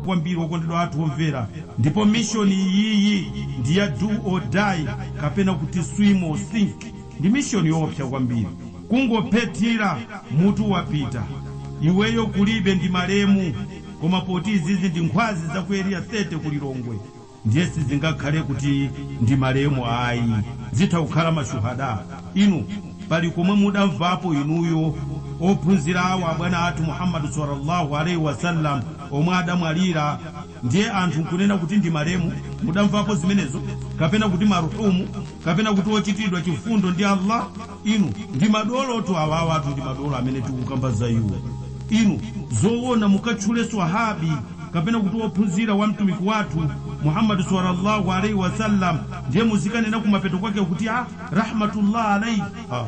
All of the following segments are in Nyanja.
kwambiri okondedwa athu omvera ndipo mission iyiyi ndi ya do or die kapena kuti swim or sink ndi mission yoopsa kwambiri kungophethira mutu wapita iweyo kulibe ndi malemu koma poti izizi ndi nkhwazi za ku Area 30 ku Lilongwe ndiye sizingakhale kuti ndi malemu ayi zitha kukhala ma shuhada inu pali komwe mudamvapo inuyo ophunzira wa bwana athu Muhammad swallaallaahu alayhi wasallam omwe adamwalira ndiye anthu nkunena kuti ndi malemu mudamvapo zimenezo kapena kuti marhumu kapena kuti ochitiridwa chifundo ndi Allah? Inu, ndi madolotu awa, awatu ndi madolo amene tikukamba za iwo. Inu, zoona mukatchule swahaabi kapena kuti ophunzira wa Mtumiki wathu Muhammad swalla Allahu alaih wasallam ndiye muzikanena kumapeto kwake kuti ah rahmatullah alaih? Ah ah.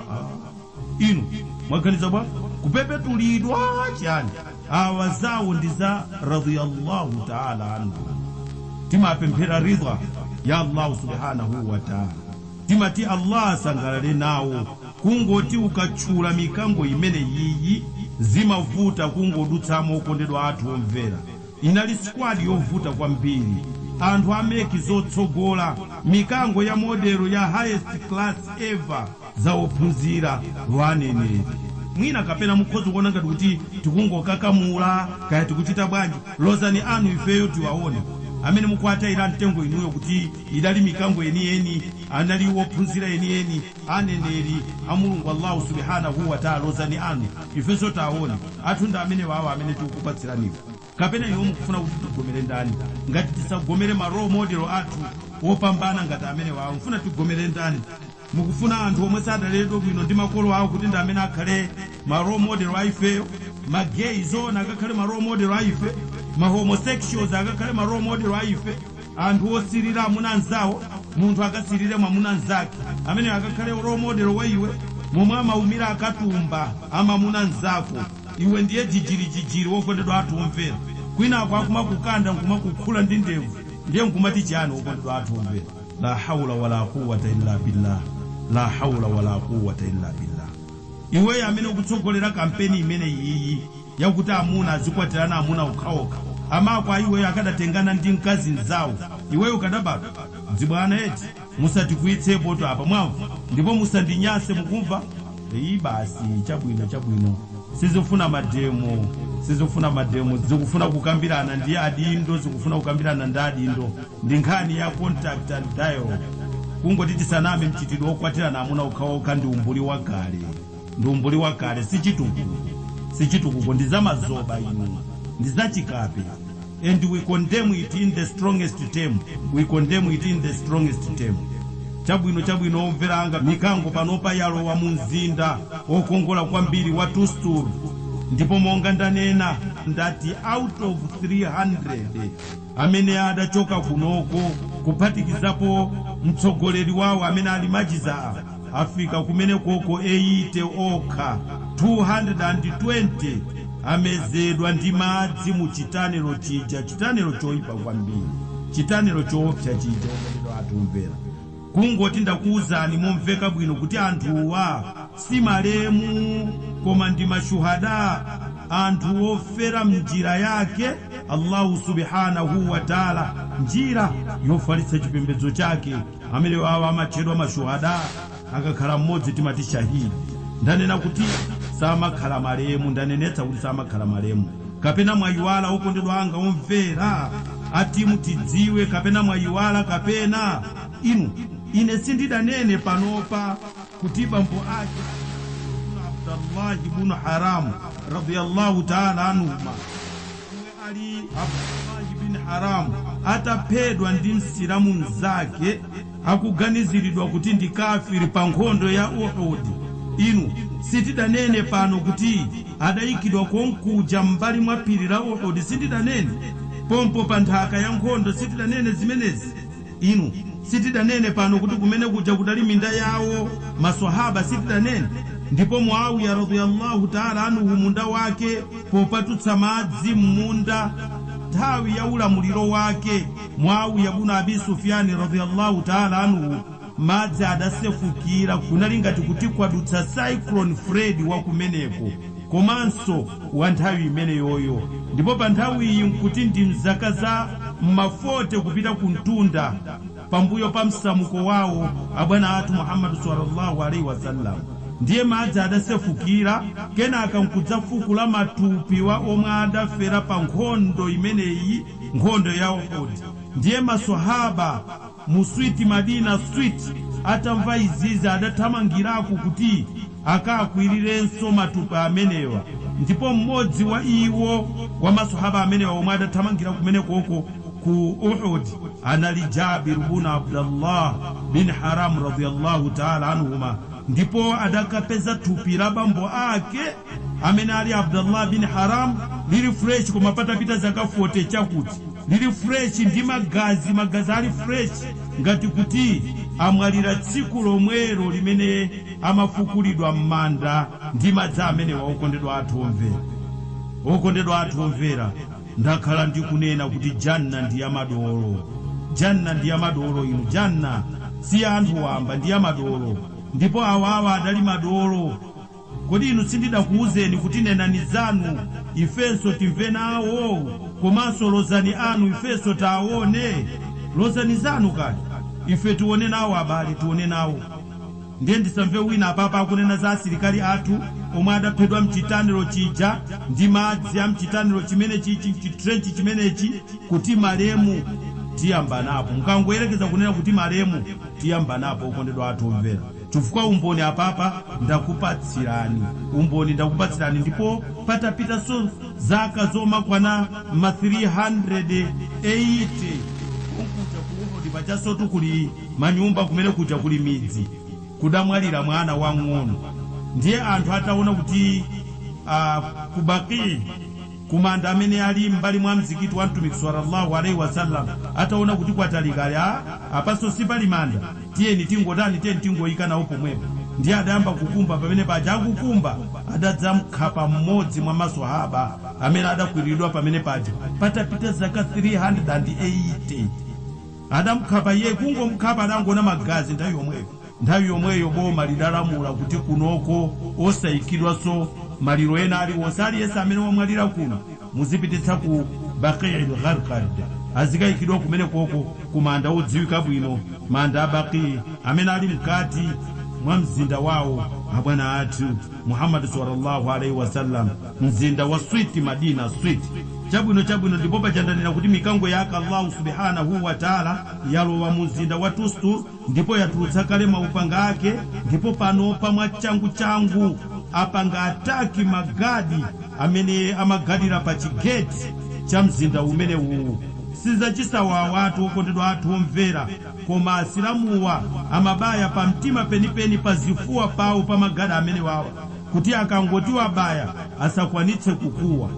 Inu, mwaganiza bwa? Kupepetulidwa chani? Awa zawo ndi za radiyallâhu ta'âlâ anhum. Timapemphera ridhwa ya Allahu subhânahu wa ta'âlâ. Timati Allah asangalale nawo, kungoti ukatchula mikango imeneyiyi zimavuta kungodutsamo okondedwa athu omvera, inali squad yovuta kwambiri, anthu a make zotsogola, mikango ya model ya highest class ever, za ophunzira a aneneri. Mwina kapena mukhoza kuona ngati kuti tikungokakamula kaya tikuchita bwanji, lozani anu ifeyo tiwaone, amene mukuwataila mtengo inuyo kuti. idali mikango yeniyeni, anali ophunzira enieni, aneneri a Mulungu Allahu subhânahu wa ta'âlâ. Lozani anu, ifenso tiwaone, athu ndi amenewa awa amene tikukupatsiraniwa. Kapena inuyo mukufuna kuti tigomere ndani? Ngati tisagomere ma role model athu opambana ngati amenewawa, mufuna tigomere ndani? Mukufuna anthu omwe sadaleredwe bwino ndi makolo awo kuti ndi amene akhale ma role model a ifeyo? Ma gay zoona akakhale ma role model a ife? Ma homosexuals akakhale ma role model a ife? Anthu osilira amuna anzawo, munthu akasilire mwamuna nzake, ameneyo akakhale role model wa iwe? Momwe amaumira akatumba a mamuna nzako, iwe ndiye jijirijijiri wokondedwa athu omvera, kwinaku akumakukanda nkumakukhula ndi ndevu ndiye nkumati chiyani wokondedwa athu omvera? La hawla wa la quwwata illa billah, la hawla wa la quwwata illa billah. Iweyo amene ukutsogolera kampeni imeneyiyi yakuti amuna azikwatirana amuna okhaokha, amako a iweyo akanatengana ndi mkazi mzawo, iweyo ukanabadwa? Dzibwana eti? Musatikwiyitsepotu apa mwamva? Ndipo musandinyanse mukumva? iyi basi chabwino chabwino sizifuna mademo sizifuna mademo zikufuna kukambirana ndi adindo zikufuna kukambirana ndi adindo ndi nkhani ya contact and dialogue kungoti tisaname mchitidwe okwatirana amuna okhaokha ndi umbuli wakale ndi umbuli wakale sichitukuko sichitukuko ndi zamazoba ino ndi zachikape and we condemn it in the strongest term we condemn it in the strongest term chabwino chabwino omvera anga mikango panopa yalowa mu mzinda okongola kwambiri wa tustur ndipo monga ndanena ndati out of 300 amene adachoka kunoko kuphatikizapo mtsogoleri wawo amene ali Majiza afika kumenekoko 80 okha, 220 amezedwa ndi madzi mu chitanelo chija, chitanelo choipa kwambiri, chitanelo choopsya chija, wokondedwa athu omvera. Kungoti ndakuuzani momveka bwino kuti anthuwa si malemu, koma ndi mashuhada, anthu ofera m'njira yake Allahu Subhaanahuu Wataala, njira yofalitsa chipembedzo chake. amene wawa amatchedwa mashuhada akakhala mmodzi timati shahidi ndanena kuti samakhala malemu ndanenetsa kuti samakhala malemu kapena mwayiwala okondedwa anga omvera ati mutidziwe kapena mwayiwala kapena inu ine sindidanene panopa kuti bambo ake a abdullahi bunu haramu radiyallahu taala anhuma ali abdullahi bin haram ataphedwa ndi msilamu mnzake akuganiziridwa kuti ndi kafiri pa nkhondo ya uhud inu sitidanene pano kuti adayikidwa konkuja m'mbali mwa phiri la uhud sindidanene pompo pa nthaka ya nkhondo sitidanene zimenezi Inu sitidanene pano kuti kumene kuja kudali minda yawo Maswahaaba, sitidanene? Ndipo Muawiya radhia Allah Taala anhu munda wake popatutsa madzi mmunda nthawi ya ulamuliro wake Muawiya bun Abi Sufyan radhia Allah Taala anhu madzi adasefukira kunali ngati kuti kwadutsa Cyclone Freddy wakumeneko. komanso wa nthawi imeneyoyo, ndipo panthawiyi n'kuti ndi m'zaka za m'ma 40 kupita kumtunda pambuyo pa msamuko wawo Abwana athu Muhammad swalla Allahu alaih wasallam, ndiye madzi adasefukira kenaka n'kudzafukula matupi wa omwe adafera pa nkhondo imeneyi, nkhondo ya Uhud, ndiye Maswahaaba. mu sweet Madina sweet, atamva izizi adathamangirako kuti akawakwirirenso matupi amenewa ndipo mmodzi wa iwo wa maswahaba amenewa omwe adathamangira kumenekoko ku Uhud anali Jabir bun Abdallah bin Haram radiyallâhu ta'âlâ anhumâ ndipo adakapeza thupi la bambo ake amene ali Abdallah bin Haram lili fresh koma patapita zaka fote chakuti. lili fresh ndi magazi magazi ali fresh ngati kuti amwalira tsiku lomwelo limene amafukulidwa mmanda ndi madzi amenewo okondedwa athu omvera okondedwa athu omvera ndakhala ndikunena kuti jannah ndi ya madolo jannah ndi ya madolo inu jannah si ya anthu wamba ndi ya madolo ndipo awawa adali madolo Kodi inu sindidakuuzeni kuti nenani zanu ifenso timve nawo, komanso lozani anu ifenso tiwaone? Lozani zanu kaye, ife tione nawo abale, tione nawo. Ndiye ndisamve wina apapa akunena za asilikali athu omwe adaphedwa m'chitanilo chija ndi madzi a m'chitanilo chimenechichi, chitrench chimenechi. Kuti malemu tiyambanapo. Mukangoyerekeza kunena kuti malemu tiyambanapo okondedwa athu omvera. Chifukwa umboni apapa ndakupatsirani, umboni ndakupatsirani, ndipo patapitanso zaka zomakwana ma 380, konkuja ku Uhudi pajansotu kuli manyumba kumene kuja kuli midzi, kudamwalira mwana wamng'ono. Ndiye anthu ataona kuti ku Baqi. kumanda amene ali m'mbali mwa mzikiti wa Mtumiki salla Allah alaih wasallam, ataona kuti kwatalika ali, ah apanso sipali manda, tiyeni tingotani, tiyeni tingoika nawo pomwepo, ndiye adayamba kukumba, pamene paja akukumba adadzamkhapa mmodzi mwa ma Swahaba amene adakwililidwa pamene paja, patapita zaka 380, adamkhapa iyeyu, kungomkhapa adangoona magazi nthawi yomweyo. Nthawi yomweyo boma lidalamula kuti kunoko osaikidwanso maliro ena aliwonse. Aliyense amene wamwalira kuno muzipititsa ku Baqi-il-Gharqad, azikaikidwa kumenekoko ku manda odziwika bwino, manda a Baqi amene ali mkati mwa mzinda wawo wa bwana athu Muhammad sallallâhu alaihi wa sallam, mzinda wa switi, Madina switi. Chabwino, chabwino, ndipo paja ndanena kuti mikango yake Allahu subhânahu wa ta'âlâ yalowa mu mzinda wa Tustur. ndipo yatulutsa kale maupanga ake ndipo panopa mwachangu changu apanga attack ma guard amene amagadira pa chi gate cha mzinda umenewuwu. Sizachibwanabwanatu okondedwa athu omvera koma asilamuwa amabaya pa mtima penipeni pa zifuwa pawo pa ma guard amenewawa kuti akangoti wabaya asakwanitse kukuwa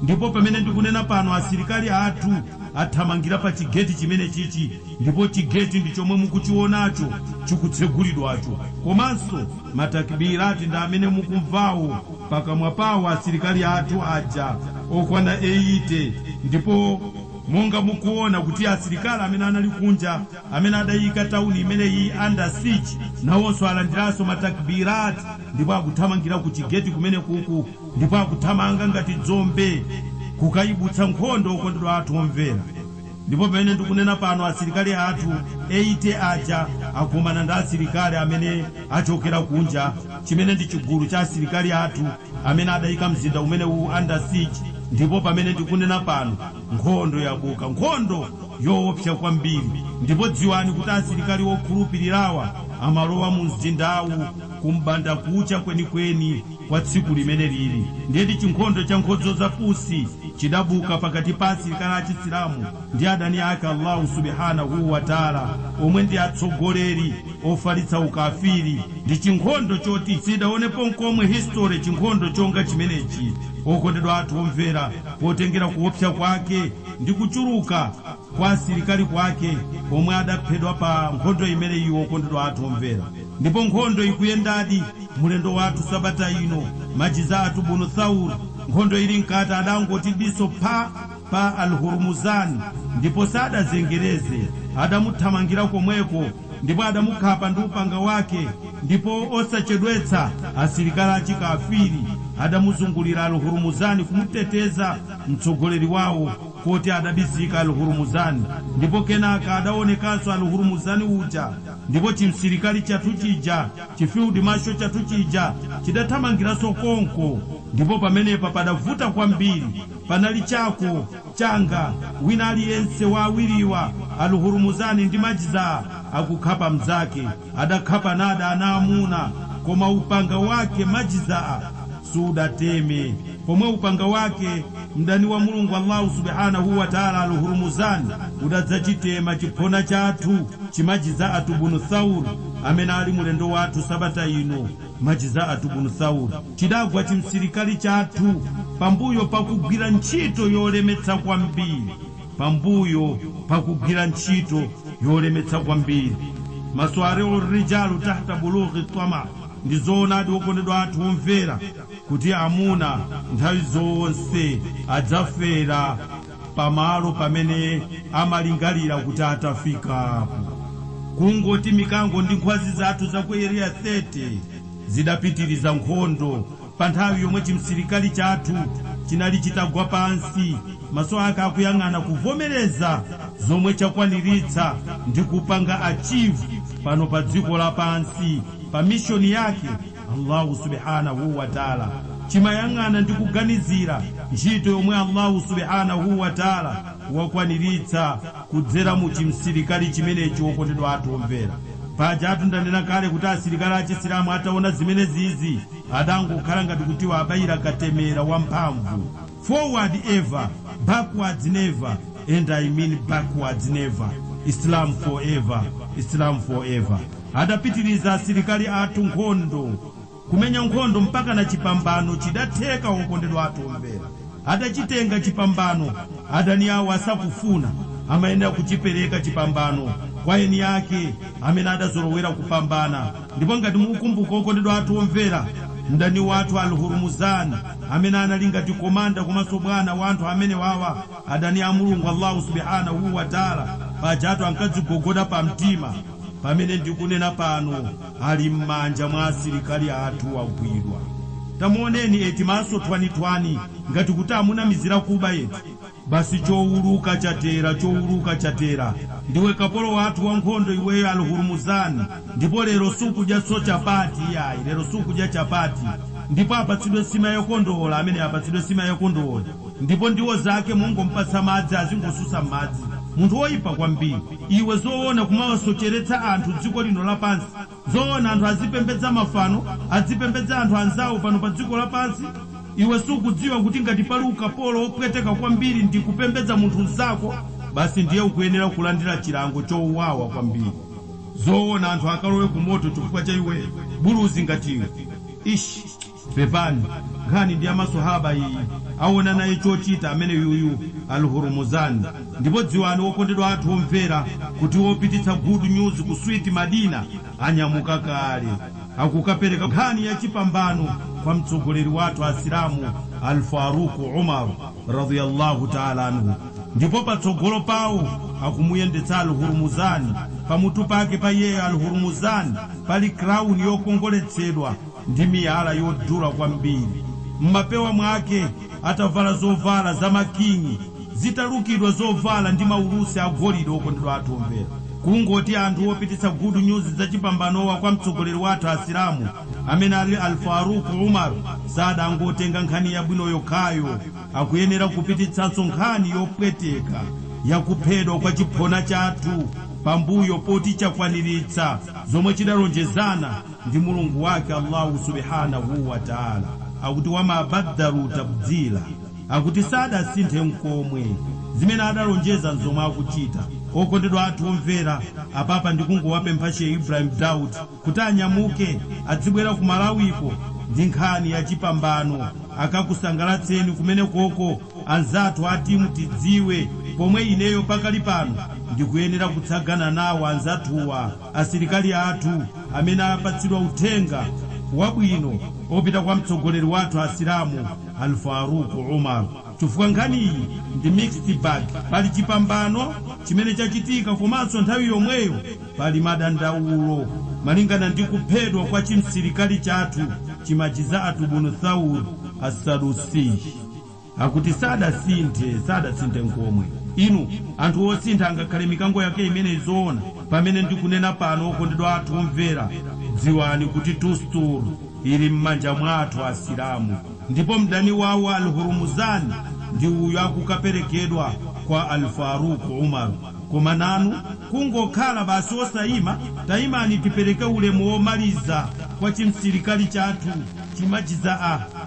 ndipo pamene ndikunena pano asilikali athu athamangira pa chi gate chimenechichi ndipo chigeti ndi chomwe mukuchionacho chikutsegulidwacho komanso ma Takbirat ndi amene mukumvawo pakamwa pawo asilikali athu aja okwana eyite ndipo monga mukuona kuti asilikali amene anali kunja amene adaiyika town imeneyi under siege nawonso alandiranso ma Takbirat ndipo akuthamangira ku chigeti kumenekuku ndipo akuthamanga ngati dzombe kukaibutsa nkhondo okondedwa athu omvera. Ndipo pamene ndikunena pano asilikali athu 80 aja akumana ndi asilikali amene akuchokera kunja, chimene ndi chigulu cha asilikali athu amene adaika mzinda umenewu under siege, ndipo pamene ndikunena pano nkhondo yabuka, nkhondo yoopsa kwambiri, ndipo dziwani kuti asilikali okhulupilirawa amalowa mumzindawu kum'bandakucha kwenikweni. kwa tsiku limene liri, ndiyetu chinkhondo cha nkodzo za pusi chidabuka pakati pa asilikali a Chisilamu ndi adani ake Allahu Subhanahu wa Ta'la omwe ndi atsogoleri ofalitsa ukafiri. Ndi chinkhondo choti siidaonepo nkomwe history chinkhondo chonga chimenechi, okondedwa athu omvera, potengera kuopsa kwake ndi kuchuluka. kwa asilikali kwake omwe adaphedwa pa nkhondo imeneyi okondedwa athu omvera ndipo nkhondo ikuyendadi mulendo wathu sabata ino Majzaatu bnu Thawr nkhondo ili mkati adangoti diso pha pa al hurmuzan ndipo sadazengereze adamuthamangira komweko ndipo adamukhapa ndi upanga wake ndipo osachedwetsa asilikali achi kafiri adamuzungulira al hurmuzan kumuteteza mtsogoleri wawo koti adabisika Al-Hurmuzan ndipo kenaka adawonekanso Al-Hurmuzan uja ndipo chimsilikali chathu chija, chi field marshal chathu chija chidathamangiranso konko ndipo pamenepa padavuta kwambiri, panali chako, changa, wina aliyense wa awiriwa Al-Hurmuzan ndi Majzaa akukhapa mnzake. Adakhapanadi ana amuna, koma upanga wake, majzaa, sudateme. Pomwe upanga wake, mdani wa Mulungu Allahu subhanahu wa taala Al-Hurmuzan, udadzachitema chiphona chathu, chi majzaatu bnu Thawr, amene ali mulendo wathu sabata ino, majzaatu bnu Thawr, chidagwa chimsilikali chathu pambuyo pakugwira ntchito yolemetsa kwambiri. Pambuyo pa kugwira ntchito yolemetsa kwambiri, Maswari'ur rijalu tahta bulughi tama, ndi zoonadi okondedwa athu omvera kuti amuna nthawi zonse adzafera pa malo pamene amalingalira kuti atafikapo. Kungoti mikango ndi nkhwazi zathu za ku Area 30 zidapitiriza nkhondo Pa nthawi yomwe chimsilikali chathu chinali chitagwa pansi, maso ake akuyang'ana kuvomereza zomwe chakwaniritsa ndi kupanga achieve pano pa dziko lapansi pa mission yake, Allahu subhanahu wa taala chimayang'ana ndi kuganizira ntchito yomwe Allahu subhanahu wa taala wakwaniritsa kudzera mu chimsilikali chimenechi. Okondedwa athu omvera, pajatu ndanena kale kuti asilikali a Chisilamu ataona zimenezizi. Adangokhala ngati kuti awabayira katemera wamphamvu. Forward ever, backwards never and I mean backwards never. Islam forever, Islam forever. Adapitiriza asilikali athu nkhondo, kumenya nkhondo mpakana chipambano chidatheka okondedwa athu omvera. Adachitenga chipambano, adani awo asakufuna, amayenera kuchipereka chipambano kwa eni ake amene adazolowera kupambana. Ndipo ngati mukukumbuka, okondedwa athu omvera, mdani wathu Al-Hurmuzan, amene anali ngati komanda komanso bwana wa anthu amenewawa, adani a Mulungu Allahu subhânahu wa ta'âlâ, pajatu ankadzigogoda pa mtima, pamene ndikunena pano ali m'manja mwa asilikali athu wagwidwa. Tamuoneni eti, maso thwanithwani ngati kuti amunamizira kuba etu. Basi chouluka chatera, chouluka chatera. Ndiwe kapolo wathu wankhondo iweyo Al Hurmuzan, ndipo lero sukudyatso chapati iyayi, lero sukudya chapati. Ndipo apatsidwe nsima ya kondoole ameneyo, apatsidwe nsima yokondola. Ndipo ndiwo zake mongomupatsa madzi azingosusa mmadzi. Munthu woipa kwambiri. Iwe zoona kumawasocheretsa anthu dziko lino lapansi? Zoona anthu azipembedza mafano, azipembedza anthu anzawo pano pa dziko lapansi? Iwe sukudziwa kuti ngati pali ukapolo wopweteka kwambiri ndi kupembedza munthu mzako? Basi ndiye ukuyenera kulandira chilango chowawa kwambiri. Zoona anthu akalowe kumoto chifukwa cha iwe buluzi ngati iwe? Ishh! Pepani, nkhani ndi ya maswahaba iyi, aona naye chochita ameneyuyu Al Hurmuzan. Ndipo dziwani okondedwa athu omvera kuti opititsa good news ku sweet Madina anyamuka kale. Akukapereka nkhani ya chipambano kwa mtsogoleri wathu asilamu Al Faruq Umar radhia Allahu Taala anhu. Ndipo patsogolo pawo akumuyendetsa Al Hurmuzan, pamutu pake pa iyeyo Al Hurmuzan pali crown yokongoletsedwa. ndi miyala yodula kwambiri m'mapewa mwake, atavala zovala za makingi zitalukidwa, zovala ndi maulusi a golide. Okondedwa athu omvera, kungoti anthu opititsa good news za chipambanowa kwa mtsogoleri wathu Asilamu amene ali Al-Faaruq Umar sadangotenga nkhani yabwino yokhayo, akuyenera kupititsanso nkhani yopweteka ya kuphedwa kwa chiphona chathu pambuyo poti chakwaniritsa zomwe chidalonjezana. ndi Mulungu wake Allahu subhanahu wa Ta'ala akuti, Wa ma baddalu tabdila, akuti sadasinthe n'komwe zimene adalonjeza n'zomwe akuchita. Okondedwa athu omvera, apapa ndikungowapempha She Ibrahim Daud kuti anyamuke adzibwera ku Malawiko ndi nkhani ya chipambano akakusangalatseni kumenekoko anzathu a Timutidziwe pomwe ineyo pakali pano ndikuyenera kutsagana nawo anzathuwa. Asilikali athu amene apatsidwa uthenga wabwino opita kwa mtsogoleri wathu asilamu Al Faruq Umar chifukwa nkhaniyi ndi mixed bag pali chipambano chimene chachitika komanso nthawi yomweyo pali madandaulo malingana ndi kuphedwa kwa chimsilikali chathu chi Majza'a ibn Thawr As Sadusiy. Akuti sadasinthe, sadasinthe nkomwe. Inu, anthu osintha angakhale mikango yake imeneyi zoona? Pamene ndikunena pano, okondedwa athu omvera, dziwani kuti Tustar ili mmanja mwa athu Asilamu, ndipo mdani wawo Al-Hurmuzan ndi uyo akukaperekedwa kwa Al-Faruq Umar. Koma nanu kungokhala basi osaima? Taimani tipereke ulemu omaliza kwa chimsilikali chathu chi Majza'a.